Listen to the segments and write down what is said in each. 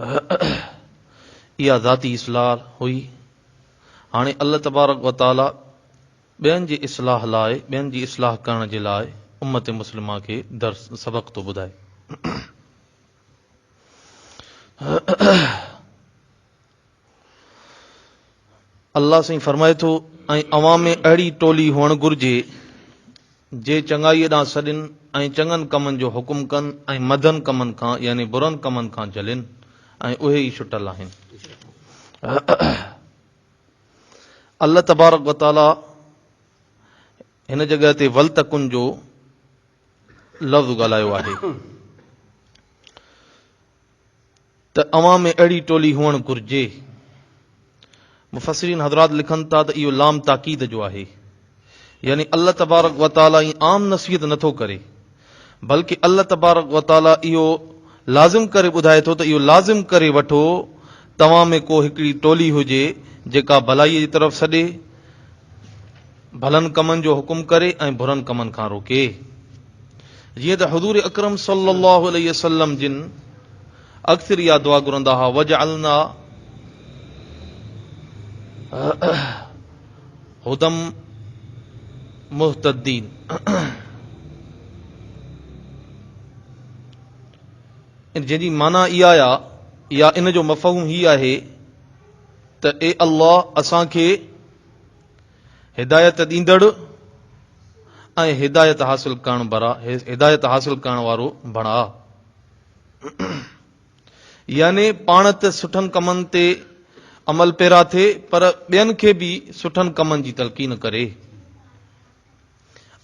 اها ذاتي اصلاح هئي. هاڻي الله تبارڪ و تعاليٰ ٻين جي اصلاح لاء، ٻين جي اصلاح ڪرڻ جي لاء امت مسلمه کي درس، سبق ٿو ٻڌائي. الله سائين فرمائي ٿو، ۽ اوهان ۾ اهڙي ٽولي هئڻ گهرجي، جي چڱائيء ڏانهن سڏين ۽ چڱن ڪمن جو حڪم ڪن ۽ مندن ڪمن کان، يعني برن ڪمن کان، جهلين ۽ اهي ئي شٽل آهن. الله تبارڪ و تعاليٰ هن جڳهه تي ولتڪن جو لفظ ڳالهايو آهي. ته اوهان ۾ اهڙي ٽولي هئڻ گهرجي. مفسرين حضرات لکن ٿا ته اهو لام تاڪيد جو آهي يعني الله تبارڪ وتعالي ائين عام نصيحت نه ٿو ڪري بلڪه الله تبارڪ وتعالي اهو لازم ڪري ٻڌائي ٿو ته اهو لازم ڪري وٺو توهان ۾ ڪو هڪڙي ٽولي هجي جيڪا ڀلائي جي طرف سڏي ڀلن ڪمن جو حڪم ڪري ۽ برن ڪمن کان روڪي جيئن ته حضور اڪرم صلي الله عليه وسلم جن اڪثر اها دعا گھرندا ها وجعلنا هدم مهتدين ان جن جي معنی اها آيا يا ان جو مفهوم هي آهي ته اي الله اسان کي هدايت ڏيندڙ ۽ هدايت حاصل ڪرڻ برا هدايت حاصل ڪرڻ وارو بڻاء يعني پاڻ ته سٺن ڪمن تي عمل پيرا ٿي پر ٻين کي به سٺن ڪمن جي تلقين ڪري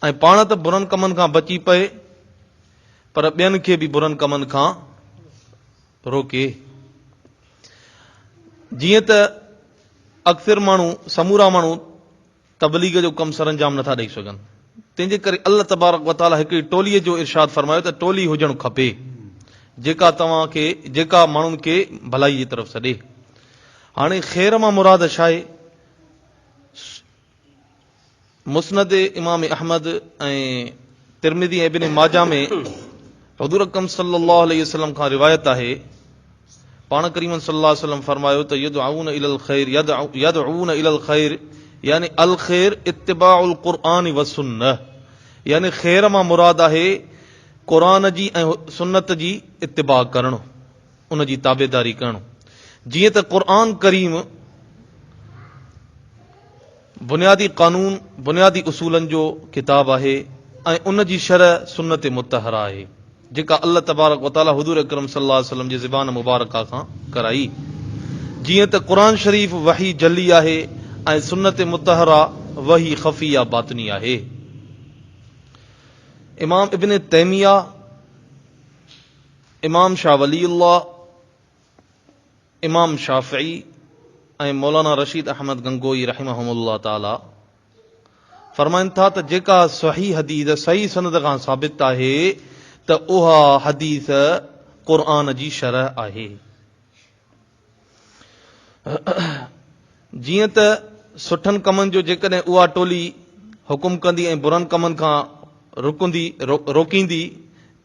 ۽ پاڻ ته برن ڪمن کان بچي پئي پر ٻين کي به برن ڪمن کان روڪي جيئن ته اڪثر ماڻهو، سمورا ماڻهو، تبليغ جو ڪم سرانجام نٿا ڏئي سگهن، تنهن جي ڪري الله تبارڪ و تعاليٰ هڪڙي ٽوليء جو ارشاد فرمايو ته ٽولي هجڻ کپي، جيڪا توهان کي، جيڪا ماڻهن کي ڀلائيء جي طرف سڏي. هاڻي خير مان مراد ڇا آهي؟ مسند امام احمد ۽ ترمذي ۽ ابن ماجه ۾ حضور اڪرم صلي الله عليه وسلم کان روايت آهي پاڻ ڪريم صلي الله عليه وسلم فرمايو ته يدعون الى الخير يدعون الى الخير يعني الخير اتباع القرآن والسنه يعني خير مان مراد آهي قرآن جي ۽ سنت جي اتباع ڪرڻ ان جي تابعداري ڪرڻ، جيئن ته قرآن ڪريم بنيادي قانون، بنيادي اصولن جو ڪتاب آهي ۽ ان جي شرح سنت مطهره آهي، جيڪا الله تبارڪ و تعاليٰ حضور اڪرم صلي الله عليه وسلم جي زبان مبارڪه کان ڪرائي. جيئن ته قرآن شريف وحي جلي آهي ۽ سنت مطهره وحي خفي يا باطني آهي. امام ابن تيميه، امام شاھ ولي الله، امام شافعي ۽ مولانا رشيد احمد گنگوئي رحمهم الله تعاليٰ فرمائن ٿا ته جيڪا صحيح حديث صحيح سند کان ثابت آهي ته اها حديث قرآن جي شرح آهي. جيئن ته سٺن ڪمن جو جيڪڏهن اها ٽولي حڪم ڪندي ۽ برن ڪمن کان رڪندي روڪيندي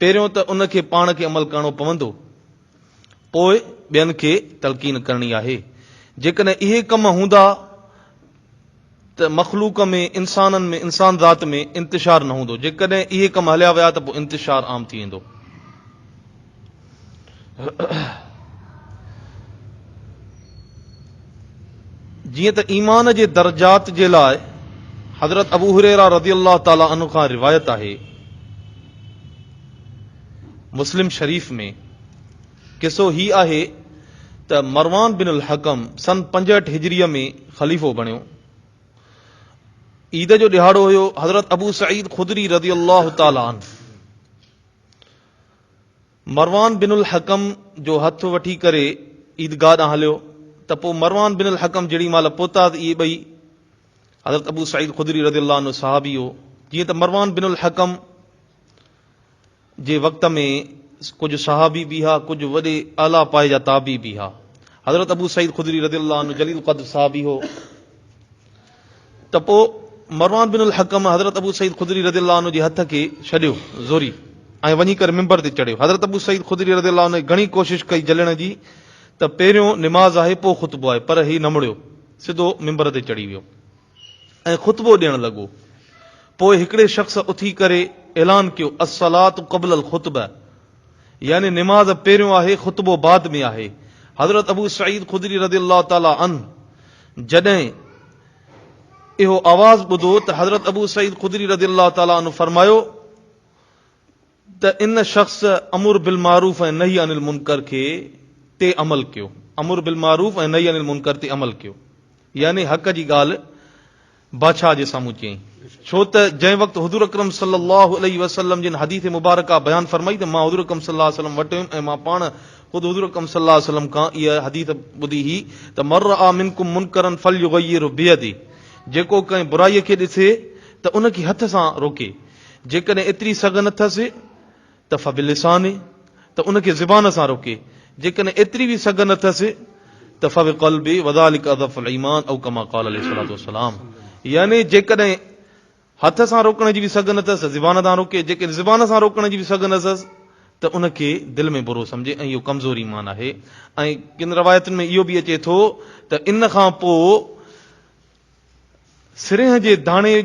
پهريون ته ان کي پاڻ کي عمل ڪرڻو پوندو پوء ٻين کي تلقين ڪرڻي آهي جيڪڏهن اهي ڪم هوندا ته مخلوق ۾ انسانن ۾ انسان ذات ۾ انتشار نه هوندو جيڪڏهن اهي ڪم هليا ويا ته پوء انتشار عام ٿي ويندو. جيئن ته ايمان جي درجات جي لاء حضرت ابو هريره رضي الله تعالي عنه کان روايت آهي مسلم شريف ۾ قصو هي آهي ته مروان بن الحڪم سن پنجهٺ هجريء ۾ خليفو بڻيو. عيد جو ڏهاڙو هيو. حضرت ابو سعيد خدري رضي الله تعالٰي عنه مروان بن الحڪم جو هٿ وٺي ڪري عيدگاهه ڏانهن هليو ته پوء مروان بن الحڪم جيڏي مهل پهتا ته اهي ٻئي حضرت ابو سعيد خدري رضي الله عنه صحابي هو جيئن ته مروان بن الحڪم جي وقت ۾ ڪجهه صحابي به ها ڪجهه وڏي اعليٰ پايي جا تابعي به ها. حضرت ابو سعيد خدري رضي الله عنه جليل القدر صحابي هو ته پوء مروان بن الحڪم حضرت ابو سعيد خدري رضي الله عنه جي هٿ کي ڇڏيو زوري ۽ وڃي ڪري منبر تي چڙهيو. حضرت ابو سعيد خدري رضي الله عنه گهڻي ڪوشش ڪئي جلڻ جي ته پهريون نماز آهي پوء خطبو آهي پر هي نه مڙيو سڌو منبر تي چڙهي ويو. ۽ خطبو ڏيڻ لڳو. پوء هڪڙي شخص اٿي ڪري اعلان ڪيو، الصلواة قبل الخطبة يعني نماز پهريون آهي خطبو بعد ۾ آهي. حضرت ابو سعيد خدري رضي الله تعالٰي عنه جڏهن اهو آواز ٻڌو ته حضرت ابو سعيد خدري رضي الله تعالٰي عنه فرمايو، ته ان شخص امر بالمعروف ۽ نهي عن المنڪر کي تي عمل ڪيو، امر بالمعروف ۽ نهي عن المنڪر تي عمل ڪيو يعني حق جي ڳالهه بادشاهه جي سامهون چيائين ڇو ته جنهن وقت حضور اڪرم صلي الله عليه وسلم جن حديث مبارڪه بيان فرمائي ته مان حضور اڪرم صلي الله عليه وسلم وٽ هيم ۽ مان پاڻ خود حضور اڪرم صلي الله عليه وسلم کان اها حديث ٻڌي هئي ته من رآ منڪم منڪرا فليغيره بيده جيڪو ڪنهن برائي کي ڏسي ته ان کي هٿ سان روڪي جيڪڏهن ايتري سگهه نه ٿس ته فبلسانه، ته ان کي زبان سان روڪي، جيڪڏهن ايتري به سگهه نه ٿس ته فبقلبه وذلڪ اضعف الايمان او ڪما قال عليه الصلوة والسلام يعني جيڪڏهن هٿ سان روڪڻ جي به سگهه نه ٿس ته زبان سان روڪي، جيڪڏهن زبان سان روڪڻ جي به سگهه نه ٿس ته ان کي دل ۾ برو سمجهي ۽ اهو ڪمزور ايمان آهي ۽ ڪن روايتن ۾ اهو به اچي ٿو ته ان کان پوء سرينهن جي داڻي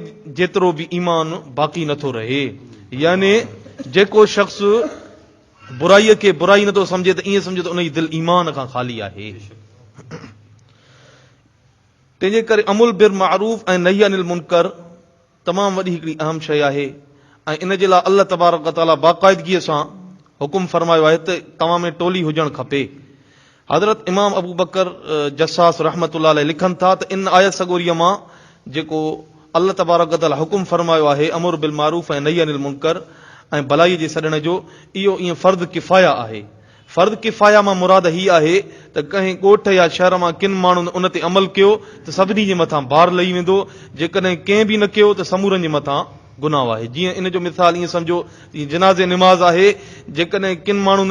جيترو به ايمان باقي نه ٿو رهي. يعني جيڪو شخص برائي کي برائي نه ٿو سمجهي ته ائين سمجهو ته ان جي دل ايمان کان خالي آهي. تنهنجي ڪري امر بالمعروف ۽ نهي عن المنڪر تمام وڏي هڪڙي اهم شيء آهي ۽ ان جي لاء الله تبارڪ و تعالي باقاعدگيء سان حڪم فرمايو آهي ته توهان ۾ ٽولي هجڻ کپي. حضرت امام ابو بڪر جصاص رحمة الله عليه لکن ٿا ته ان آيت سڳوريء مان جيڪو الله تبارڪ و تعالي حڪم فرمايو آهي امر بالمعروف ۽ نهي عن المنڪر ۽ ڀلائيء جي سڏڻ جو، اهو ائين فرض ڪفايه آهي فرض ڪفايه مان مراد هي آهي ته ڪنهن ڳوٺ يا شهر مان ڪن ماڻهن ان تي عمل ڪيو ته سڀني جي مٿان بار لهي ويندو، جيڪڏهن ڪنهن به نه ڪيو ته سمورن جي مٿان گناهه آهي. جيئن ان جو مثال ائين سمجهو ته جيئن جنازي نماز آهي، جيڪڏهن ڪن ماڻهن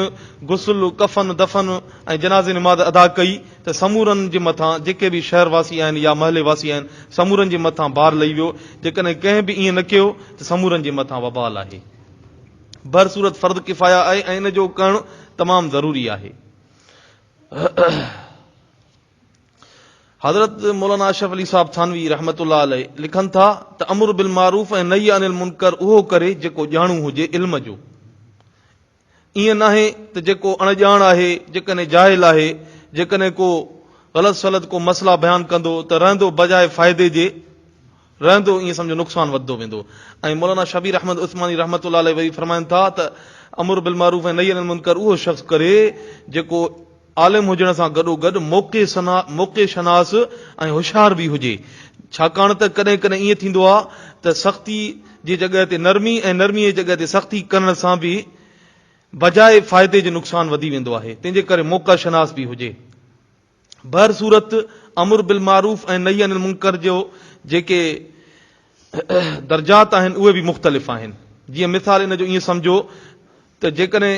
غسل، ڪفن، دفن ۽ جنازي نماز ادا ڪئي ته سمورن جي مٿان جيڪي به شهر واسي آهن يا محلي واسي آهن سمورن جي مٿان بار لهي ويو، جيڪڏهن ڪنهن به ائين نه ڪيو ته سمورن جي مٿان وبال آهي. بهر صورت فرض ڪفايه آهي ۽ ان جو ڪرڻ تمام ضروري آهي. حضرت مولانا اشرف علي صاحب ٿانوي رحمت الله عليه لکن ٿا ته امر بالمعروف ۽ نهي عن المنکر اهو ڪري جيڪو ڄاڻو هجي علم جو ائين ناهي ته جيڪو اڻ ڄاڻ آهي جيڪڏهن جاهل آهي جيڪڏهن ڪو غلط سلط ڪو مسئلا بيان ڪندو ته رهندو بجاء فائدي جي رهندو ائين سمجهو نقصان وڌندو ويندو ۽ مولانا شبير احمد عثماني رحمة الله عليه وري فرمائن ٿا ته امر بالمعروف ۽ نهي عن المنڪر اهو شخص ڪري جيڪو عالم هجڻ سان گڏو گڏ موقع سنا موقع شناس ۽ هوشيار به هجي ڇاڪاڻ ته ڪڏهن ڪڏهن ائين ٿيندو آهي ته سختي جي جڳهه تي نرمي ۽ نرمي جي جڳهه تي سختي ڪرڻ سان به بجاء فائدي جي نقصان وڌي ويندو آهي تنهن جي ڪري موقع شناس به هجي بهر صورت امر بالمعروف ۽ نهي عن المنڪر جو جيڪي درجات آهن اهي به مختلف آهن. جيئن مثال ان جو ائين سمجهو ته جيڪڏهن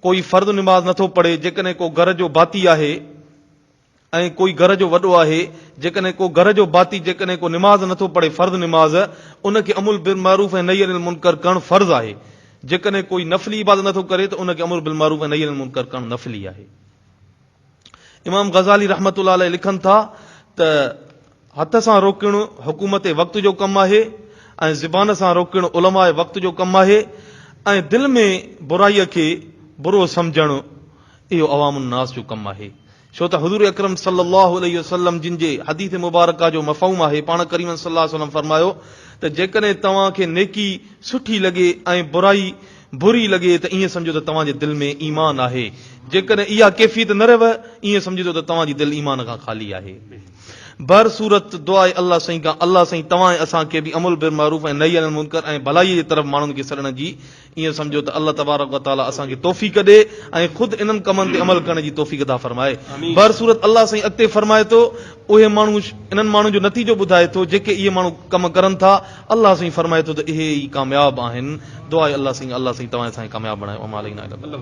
ڪوئي فرض نماز نٿو پڙهي، جيڪڏهن ڪو گهر جو ڀاتي آهي ۽ ڪوئي گهر جو وڏو آهي، جيڪڏهن ڪو گهر جو ڀاتي جيڪڏهن ڪو نماز نٿو پڙهي فرض نماز ان کي امر بالمعروف ۽ نهي عن المنڪر ڪرڻ فرض آهي، جيڪڏهن ڪوئي نفلي عبادت نٿو ڪري ته ان کي امر بالمعروف ۽ نهي عن المنڪر ڪرڻ نفلي آهي. امام غزالي رحمة الله عليه لکن ٿا ته هٿ سان روڪڻ حڪومت وقت جو ڪم آهي ۽ زبان سان روڪڻ علماء وقت جو ڪم آهي ۽ دل ۾ برائي کي برو سمجهڻ اهو عوام الناس جو ڪم آهي ڇو ته حضور اڪرم صلي الله عليه وسلم جن جي حديث مبارڪه جو مفهوم آهي پاڻ ڪريم صلي الله عليه وسلم فرمايو ته جيڪڏهن توهان کي نيڪي سٺي لڳي ۽ برائي بري لڳي ته ائين سمجهو ته توهان جي دل ۾ ايمان آهي، جيڪڏهن اها ڪيفيت نه رهيو ائين سمجهجو ته توهان جي دل ايمان کان خالي آهي. بهر صورت دعاء الله سائين کان الله سائين توهان ۽ اسان کي به امر بالمعروف ۽ نهي عن المنڪر ۽ ڀلائي جي طرف ماڻهن کي سڏڻ جي ائين سمجهو ته الله تبارڪ و تعالي اسان کي توفيق ڏي ۽ خود انهن ڪمن تي عمل ڪرڻ جي توفيق عطا فرمائي. بهر صورت الله سائين اڳتي فرمائي ٿو اهي ماڻهو انهن ماڻهن جو نتيجو ٻڌائي ٿو جيڪي اهي ماڻهو ڪم ڪرن ٿا. الله سائين فرمائي ٿو ته اهي ئي ڪامياب آهن. دعا اي الله سائين الله سائين توهان سائين ڪامياب بڻايو وما علينا الا البلاغ.